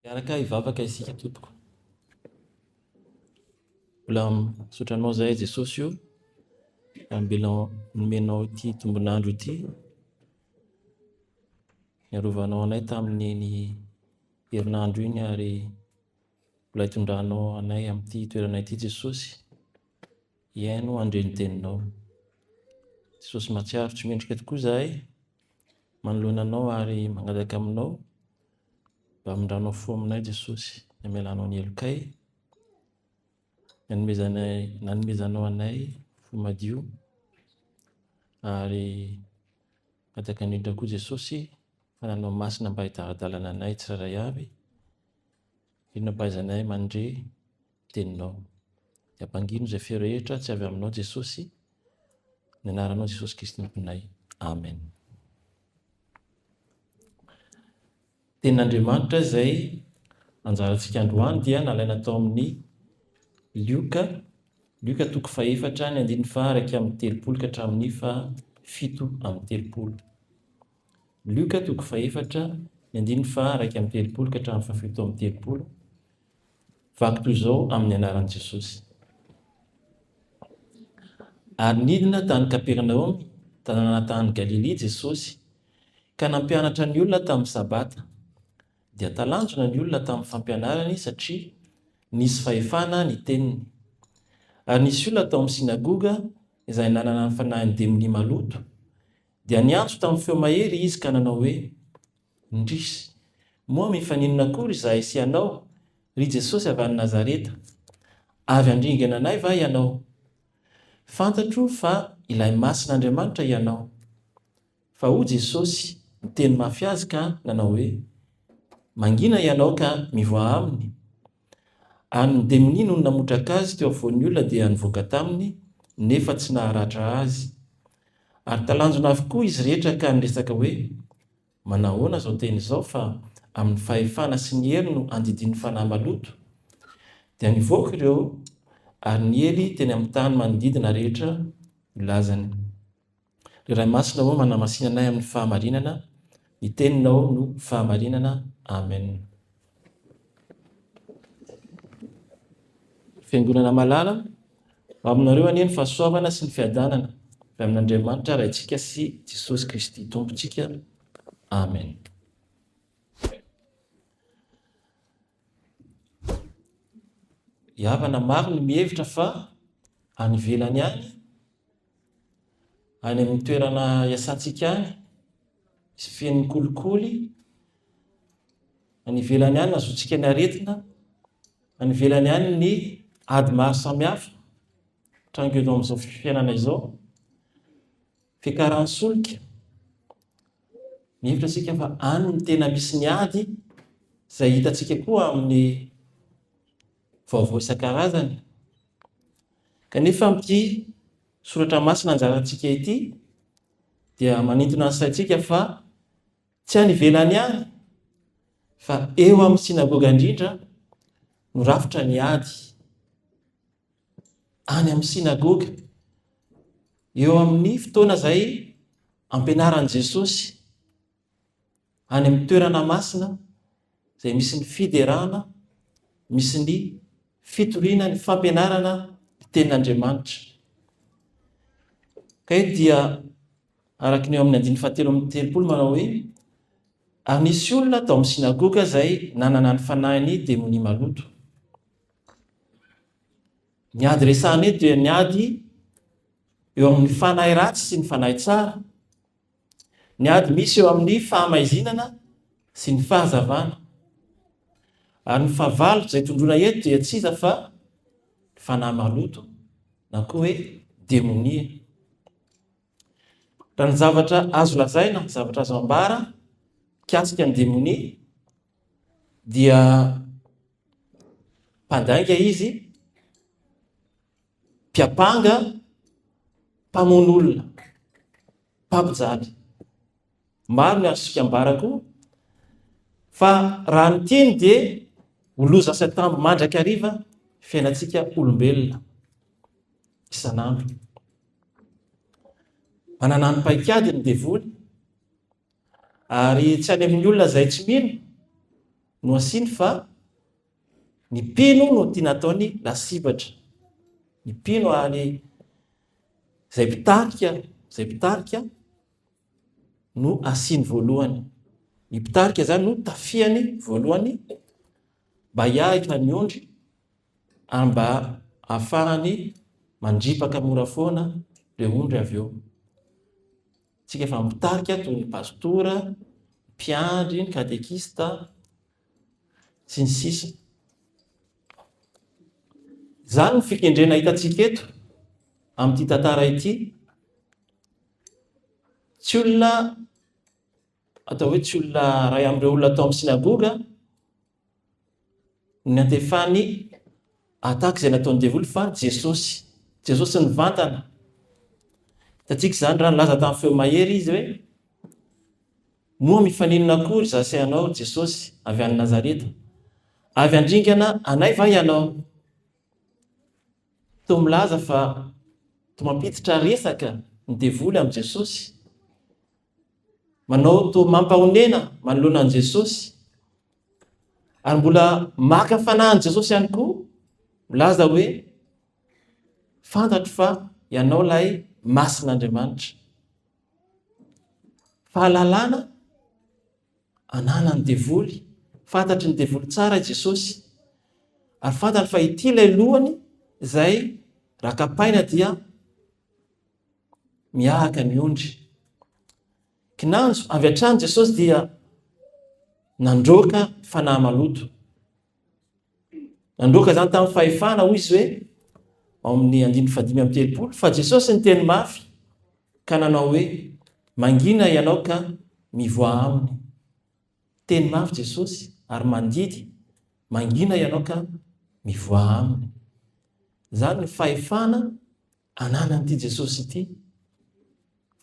Miaraka hivavaka isika tompoko. Mbola misaotra anao zahay Jesosy io ambela nomenao ity tombon'andro ity. Niarovanao anay tamin'iny herinandro iny ary mbola hitondranao anay amin'ity toerana ity Jesosy. Hihaino handre ny teninao. Jesosy mahatsiaro tsy mendrika tokoa zahay manoloana anao ary mangataka aminao Mba mindrano fo aminay Jesosy ny amelanao ny helokay, ny anomezanay nanomezanao anay fo madio ary mangataka indrindra koa Jesosy fa nanao masina mba hidaladalana anay tsirairay avy, inona mba izay anay mandre teninao. Dia bangino izay feo rehetra tsy avy aminao Jesosy, ny anaranao Jesosy Kristy Tomponay. Amen. Tenin'Andriamanitra izay anjarantsika androany dia nalaina tao amin'ny Lioka, Lioka toko fahefatra ny andininy fa araka amin'ny telopolo ka hatramin'ny fa fito amin'ny telopolo. Lioka toko fahefatra ny andininy fa araka amin'ny telopolo ka hatramin'ny fahafito amin'ny telopolo. Vaky toy izao amin'ny anaran'i Jesosy. Ary nidina tany Kapernaomy, tanàna tany Galilia, Jesosy, ka nampianatra ny olona tamin'ny Sabata. Dia talanjona ny olona tamin'ny fampianarany, satria nisy fahefana ny teniny. Ary nisy olona tao amin'ny sinagoga izay nanana ny fanahin'ny demonia maloto, dia niantso tamin'ny feo mahery izy ka nanao hoe, Indrisy! Moa mifaninona akory izahay sy ianao, ry Jesosy avy any Nazareta? Avy handringana anay va ianao? Fantatro fa ilay Masin' Andriamanitra ianao. Fa hoy Jesosy niteny mafy azy ka nanao hoe, Mangina ianao ka mivoaha aminy. An'ny demonia no namotraka azy teo afovoan'ny olona dia nivoaka taminy, nefa tsy naharatra azy. Ary talanjona avokoa izy rehetra ka niresaka hoe, Manahoana izao teny izao fa amin'ny fahefana sy ny hery no andidian'ny fanahy maloto? Dia nivoaka ireo ary niely teny amin'ny tany manodidina rehetra ny lazany. Ry Ray Masina ô manamasina anay amin'ny fahamarinana, ny teninao no fahamarinana Amen. Fiangonana malala, ho aminareo anie ny fahasoavana sy ny fiadanana avy amin'Andriamanitra Raintsika sy Jesosy Kristy Tompontsika. Amen. Havana maro no mihevitra fa any ivelany any, any amin'ny toerana iasantsika any, sy feno kolikoly, any ivelany any azontsika ny aretina, any ivelany any ny ady maro samihafa, trangenom izao fifianana izao. Fiakaran'ny solika, Mihevitra isika fa any no tena misy ny ady, izay hitantsika koa amin'ny vaovao isan-karazany. Kanefa amin'ity soratra masina anjarantsika ity dia manintona ny saintsika fa tsy any ivelany any fa eo amin'ny sinagoga indrindra no rafitra ny ady. any amin'ny synagoga. Eo amin'ny fotoana izay ampianaran'i Jesosy any amin'ny toerana masina izay misy ny fiderana, misy ny fitoriana, ny fampianarana ny tenin'Andriamanitra. Ka eto dia araka ny eo amin'ny andininy fahatelo amin'ny telopolo manao hoe ary nisy olona tao amin'ny synagoga izay nanana ny fanahin'ny demonia maloto. Ny ady resahana eto dia ny ady eo amin'ny fanahy ratsy sy ny fanahy tsara. Ny ady misy eo amin'ny fahamaizinana sy ny fahazavana. Ary ny fahavalo izay tondroina eto dia tsy iza fa ny fanahy maloto na koa hoe demonia. Raha ny zavatra azo lazaina, ny zavatra azo ambara mikasika ny demonia dia Mpandainga izy, mpiampanga, mpamono olona, mpampijaly. Maro ny azo fikambarako fa raha ny tiany dia ho loza sy atambo mandrakariva fiainantsika olombelona isan'andro. Manana ny paikady ny devoly, Ary tsy any amin'ny olona izay tsy mino no asiany fa ny mpino no tiana ataony lasibatra. Ny mpino ary izay mpitarika, izay mpitarika no asiany voalohany. Ny mpitarika izany no tafiany voalohany mba hiahitra ny ondry ary mba hahafahany mandripaka mora foana ireo ondry avy eo. Isika efa mitarika toy ny pastora, mpiandry, ny katekista, sy ny sisa. Izany ny fikendrena hitantsika eto amin'ity tantara ity. Tsy olona atao hoe tsy olona ray amin'ireo olona atao amin'ny sinagoga Ny antefan'ny attaque izay nataon'ny devoly fa Jesosy. Jesosy nivantana. Hitantsika izany raha nilaza tamin'ny feo mahery izy hoe moa mifaninona akory za sy anao Jesosy avy any Nazareta? Avy andringana anay va ianao? Toa milaza fa toa mampiditra resaka ny devoly amin'i Jesosy. manao toa mampahonena manoloana an'i Jesosy, ary mbola maka fanahin'i Jesosy ihany koa, milaza hoe fantatro fa ianao ilay masin'Andriamanitra. Fahalalana ananan'ny devoly, fantatry ny devoly tsara i Jesosy, ary fantatro fa ity ilay lohany izay rakapaina dia miahaka ny ondry. Kinanjo avy hatrany Jesosy dia nandroaka fanahy maloto. Nandroaka izany tamin'ny fahefana, hoy izy hoe, ao amin'ny andininy fadimy amin'ny telopolo, fa Jesosy ny teny mafy ka nanao hoe, mangina ianao ka mivoa aminy. Teny mafy Jesosy ary mandidy, mangina ianao ka mivoa aminy. Izany ny fahefana ananan'ity Jesosy ity,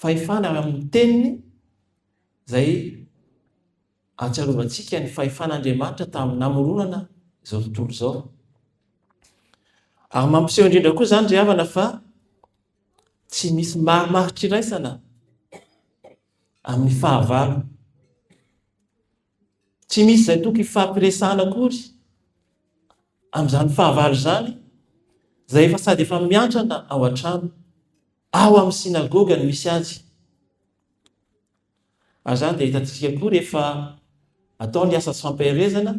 fahefana avy amin'ny teniny izay atsiarovantsika ny fahefan'Andriamanitra tamin'ny namoronana izao tontolo izao. Ary mampiseho indrindra koa izany ry havana fa tsy misy marimarik'iraisana amin'ny fahavalo. Tsy misy izay tokony hifampiresahana akory amin'izany fahavalo izany, izay efa sady efa miantrana ao an-trano, ao amin'ny synagoga no misy azy. Ary izany dia hitantsika koa rehefa atao ny asa tsy fampaherezana,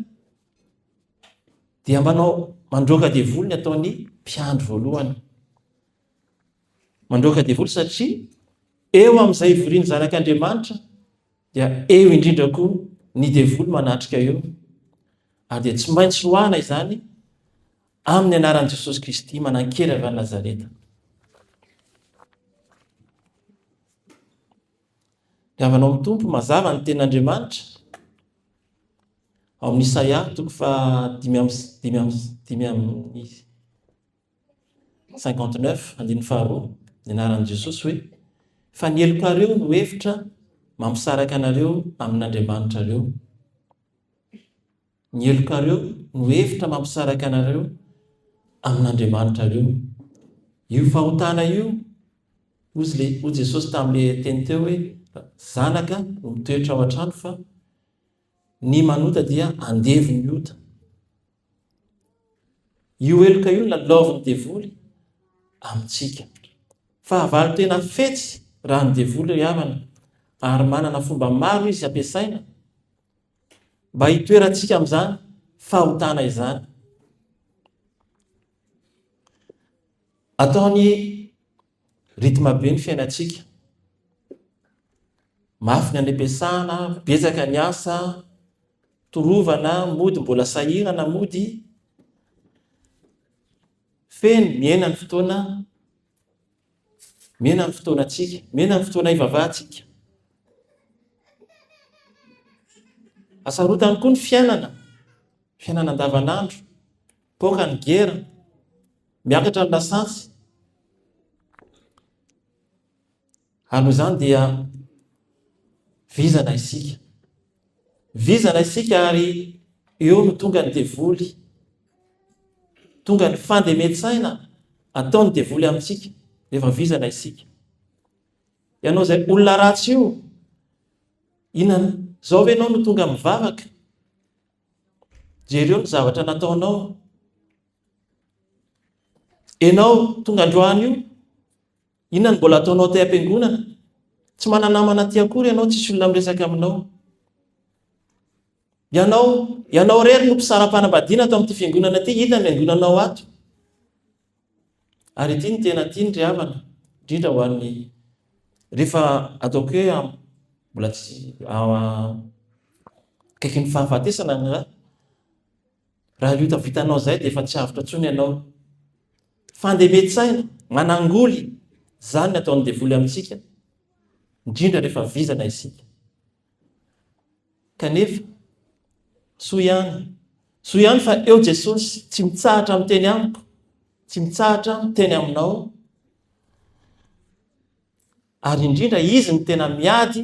dia manao mandroaka devoly ny ataon'ny mpiandry voalohany. Mandroaka devoly satria eo amin'izay ivorian'ny zanak'Andriamanitra Dia eo indrindra koa ny devoly manatrika eo, ary dia tsy maintsy roahina izany amin'ny anaran'i Jesosy Kristy manan-kery avy any Nazareta. Dia avy anao amin'ny Tompo mazava ny tenin'Andriamanitra ao amin'ny Isaia toko fa dimy amin'ny dimy amin'ny dimy amin'ny 59, andininy faharoa, ny anaran'i Jesosy hoe, Fa ny helokareo no hevitra mampisaraka anareo amin'Andriamanitrareo. Ny helokareo no hevitra mampisaraka anareo amin'Andriamanitrareo. Io fahotana io, ozy le, ho Jesosy tamin'ilay teny teo hoe, zanaka no mitoetra ao an-trano fa ny manota dia andevon'ny ota. Io heloka io no lalaovin'ny devoly amintsika. Fahavalo tena fetsy raha ny devoly ry havana ary manana fomba maro izy ampiasaina mba hitoerantsika amin'izany fahotana izany. Ataony Rythme be ny fiainantsika, mafy ny an'epesahana, betsaka ny asa, torovana, mody mbola sahirana, mody, feno, mihena ny fotoana, mihena ny fotoanantsika, mihena ny fotoana ivavahantsika. Asarotany koa ny fiainana, fiainana andavanandro. Poaka ny gera, miakatra ny lasantsy. Ary noho izany dia vizana isika. Vizana isika ary eo no tonga ny devoly. Tonga ny fandemen-tsaina ataon'ny devoly amintsika rehefa vizana isika. Ianao izay olona ratsy io, inona izao ve ianao no tonga mivavaka? Jereo ny zavatra nataonao. Enao tonga androany io, inona ny mbola ataonao aty am-piangonana? Tsy manana namana aty akory ianao, tsisy olona miresaka aminao. Ianao, ianao rery no mpisara-panambadiana ato amin'ity fiangonana ity, hita ny angonanao ato. Ary ity no tena tiany ry havana, indrindra ho an'ny rehefa ataoko hoe mbola tsy akaiky ny fahafatesana ny ra, raha io tavitanao izay dia efa tsy avotra intsony ianao. Fandemen-tsaina, manangoly, izany ny ataon'ny devoly amintsika, indrindra rehefa vizana isika. Kanefa, soa ihany, soa ihany fa eo Jesosy, tsy mitsahatra miteny amiko, tsy mitsahatra miteny aminao, ary indrindra izy ny tena miady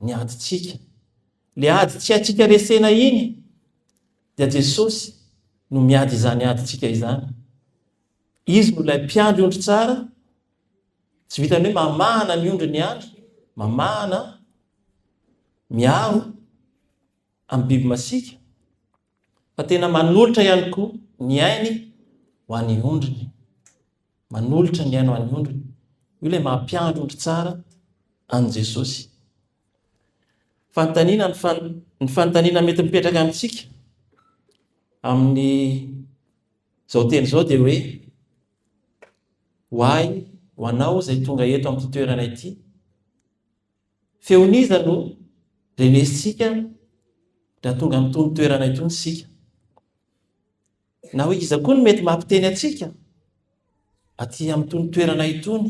ny adintsika. Le ady tsy haintsika resena iny dia Jesosy no miady izany adintsika izany. Izy no ilay mpiandry ondry tsara, tsy vitan'ny hoe mamahana ny ondriny ihany, mamahana, miaro amin'ny biby masiaka, fa tena manolotra ihany koa ny ainy ho an'ny ondriny. Manolotra ny ainy ho an'ny ondriny. Io ilay mampiandry ondry tsara an'i Jesosy. Fanontaniana ny, fan, ny fanontaniana mety mipetraka amintsika amin'ny Izao teny izao dia hoe, Ho ahy, ho anao izay tonga eto amin'ity toerana ity, feon'iza no renesintsika raha tonga amin'itony toerana itony isika? Na hoe iza koa no mety mampiteny antsika aty amin'itony toerana itony?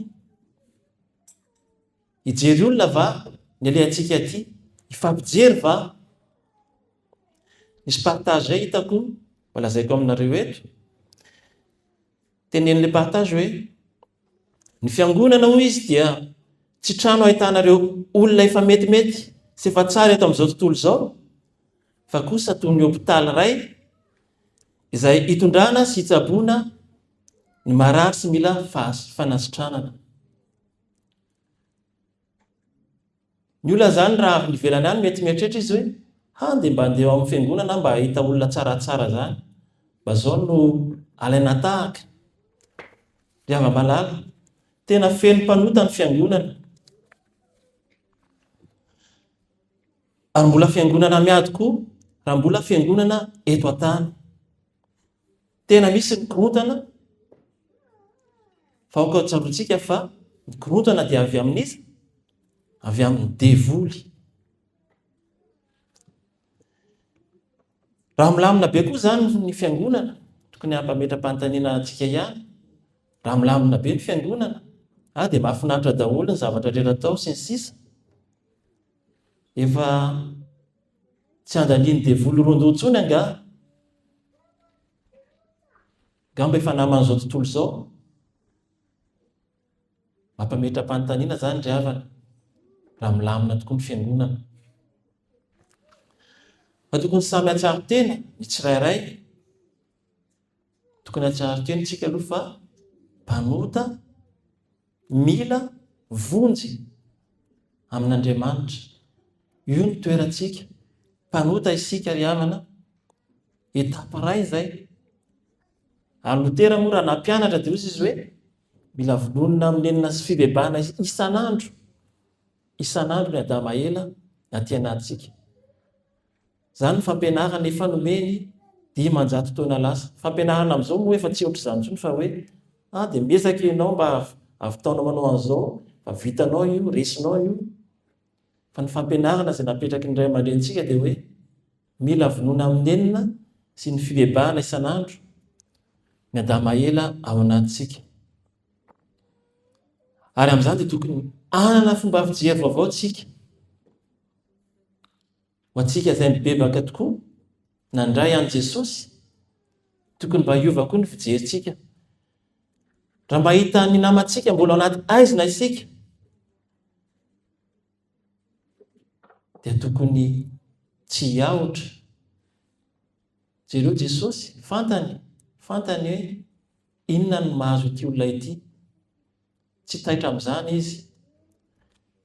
Hijery olona va ny alehantsika aty? Hifampijery va? Nisy partage zay hitako, mba lazaiko aminareo eto. Tenenin'ilay partage hoe, ny fiangonana hoy izy dia tsy trano ahitana ireo olona efa metimety sy efa tsara eto amin'izao tontolo izao, fa kosa toy ny hopitaly iray izay hitondrana sy hitsaboana ny marary sy mila fanasitranana. Ny olona izany raha avy nivelany any mety mieritreritra izy hoe ha dia mba handeha ao amin'ny fiangonana aho mba hahita olona tsaratsara izany. Mba izao no alaina tahaka. Ry hava-malala, tena feno mpanota ny fiangonana. Ary mbola fiangonana miady koa raha mbola fiangonana eto an-tany. Tena misy ny korontana fa aoka tsaroantsika fa ny korontana dia avy amin'iza? Avy amin'ny devoly. Raha milamina be koa izany ny fiangonana, tokony hampametra-panontaniana antsika ihany. Raha milamina be ny fiangonana, ah dia mahafinaritra daholo ny zavatra rehetra atao sy ny sisa. Efa Tsy andanian'ny devoly rondoha intsony angaha? Angamba efa naman'izao tontolo izao? Mampametra-panontaniana izany ry havana, raha milamina tokoa ny fiangonana. Fa tokony samy hatsaro tena ny tsirairay. Tokony hahatsiaro kely isika aloha fa mpanota mila vonjy amin'Andriamanitra. Io no toerantsika. Mpanota isika ry havana. Etape iray izay. Ary Lotera moa raha nampianatra dia hozy izy hoe mila vonona amin'ny nenina sy fibebahana isan'andro. Isan'andro ny Adama ela aty anatintsika. Izany ny fampianarana efa nomeny dimanjato taona lasa. Fampianarana amin'izao moa efa tsy ohatr'izany intsony fa hoe ah dia miezaka ianao mba havitaonao manao an'izao fa vitanao io, resinao io. Fa ny fampianarana izay napetraky ny ray aman-drenintsika dia hoe mila vonona amin'ny nenina sy ny fibebahana isan'andro ny adamaela ao anatintsika. Ary amin'izany dia tokony hanana fomba fijery vaovao tsika. Ho antsika izay mibebaka tokoa nandray an'i Jesosy, tokony mba hiova koa ny fijerintsika. Raha mba hahita ny namantsika mbola anaty aizina isika, dia tokony tsy hiahotra. Jereo Jesosy, fantany, fantany hoe inona no mahazo ity olona ity. Tsy taitra amin'izany izy.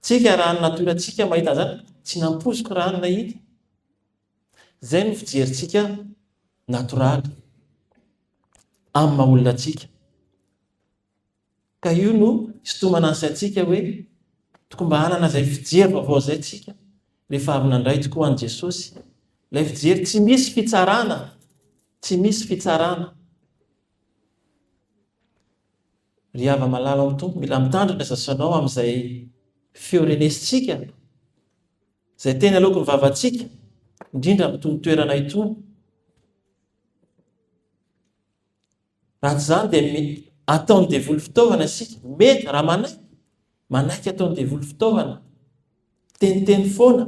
Tsika raha ny natorantsika mahita an'izany, tsy nampoiziko raha ny nahita. Izay no fijerintsika natoraly amin'ny maha olona antsika. Ka io no hisintomana ny saintsika hoe tokony mba hanana izay fijery vaovao izay tsika rehefa avy nandray tokoa an'i Jesosy. Ilay fijery tsy misy fitsarana, tsy misy fitsarana. Ry hava-malala ao Tompo, mila mitandrina ny sasanao amin'izay feo renesintsika, izay teny aloaky ny vavantsika, indrindra amin'itony toerana itony. Raha tsy izany dia ataon'ny devoly fitaovana isika. Mety raha manaiky, manaiky ataon'ny devoly fitaovana. Teniteny foana.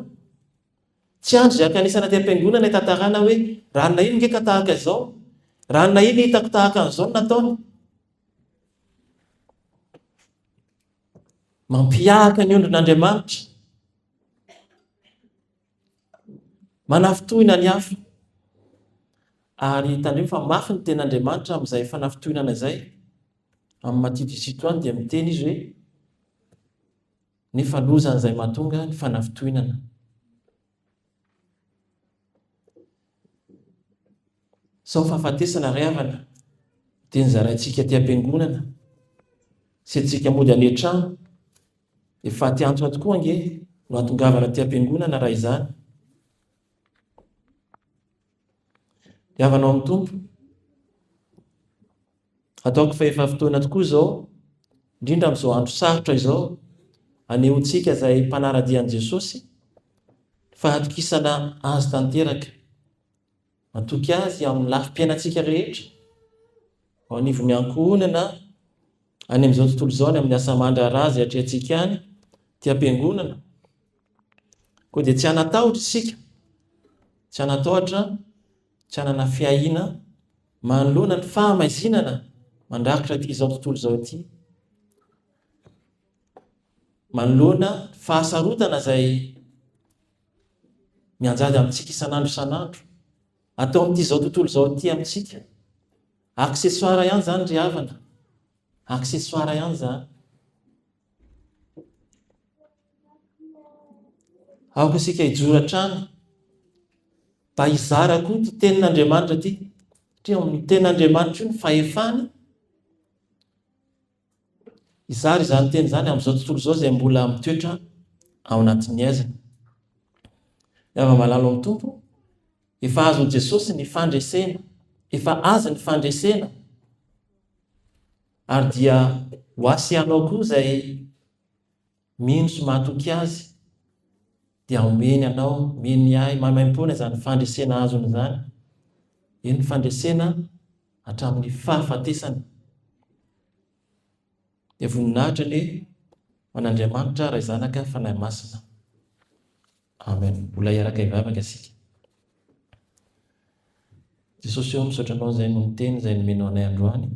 Tsy andry zay ankanesana aty am-piangonana itantarana hoe ranona iny nge ka tahaka izao, ranona iny hitako tahaka an'izao ny nataony. Mampihahaka ny ondrin'Andriamanitra. Manafintohina ny hafa. Ary tandremo fa mafy ny ten'Andriamanitra amin'izay fanafintohinana izay. Amin'ny Matitio sy Tito any dia miteny izy hoe. Nefa loza an'izay mahatonga ny fanafintohinana. Sao fahafatesana ry havana dia ny zaraintsika aty am-piangonana sy antsika mody any an-trano. Efa aty antoato koa ange no ahatongavana aty am-piangonana raha izany. Dia havanao amin'ny Tompo. Ataoko fa efa fotoana tokoa izao, indrindra amin'izao andro sarotra izao, anehontsika izay mpanaradia an'i Jesosy fa hatokisana azy tanteraka. Matoky azy amin'ny lafim-piainantsika rehetra, ao anivon'ny ankohonana, any amin'izao tontolo izao, any amin'ny asa aman-draharaha izay atrehantsika any, ity am-piangonana, Koa dia tsy hanatahotra isika, tsy hanatahotra, tsy hanana fiahiana manoloana ny fahamaizinana mandrakitra ity izao tontolo izao ity, manoloana fahasarotana izay mianjady amintsika isan'andro isan'andro, atao amin'ity izao tontolo izao ity amintsika. Accessoire ihany izany ry havana, accessoire ihany izany. Aoka isika hijoro hatrany mba hizara koa ity tenin'Andriamanitra ity. Satria ao amin'ny tenin'Andriamanitra io ny fahefana. Hizara izany teny izany amin'izao tontolo izao izay mbola mitoetra ao anatin'ny aizina. Yava malalo amin'ny Tompo, efa azon'i Jesosy ny fandresena, efa azy ny fandresena. Ary dia ho asianao koa izay mino sy matoky Azy, dia homeny anao, mino Ahy, maimaimpoana izany fandresena azony izany, eny, fandresena hatramin'ny fahafatesana. Dia voninahitra anie ho an'Andriamanitra Ray Zanaka Fanahy Masina. Amen mbola hiaraka hivavaka isika. Jesosy ô misaotra anao zay noho ny teny zay nomenao anay androany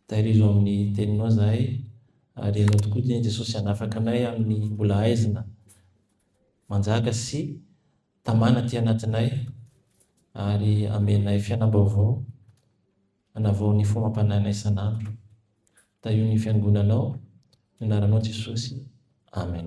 tahirizo amin'ny teninao zahay ary ianao tokoa dia Jesosy hanafaka anay amin'ny mbola haizina manjaka sy tamana aty anatinay ary amenay fianam-baovao hanavao ny fomam-panahinay isan'andro tahio ny fiangonanao ny anaranao Jesosy Amen.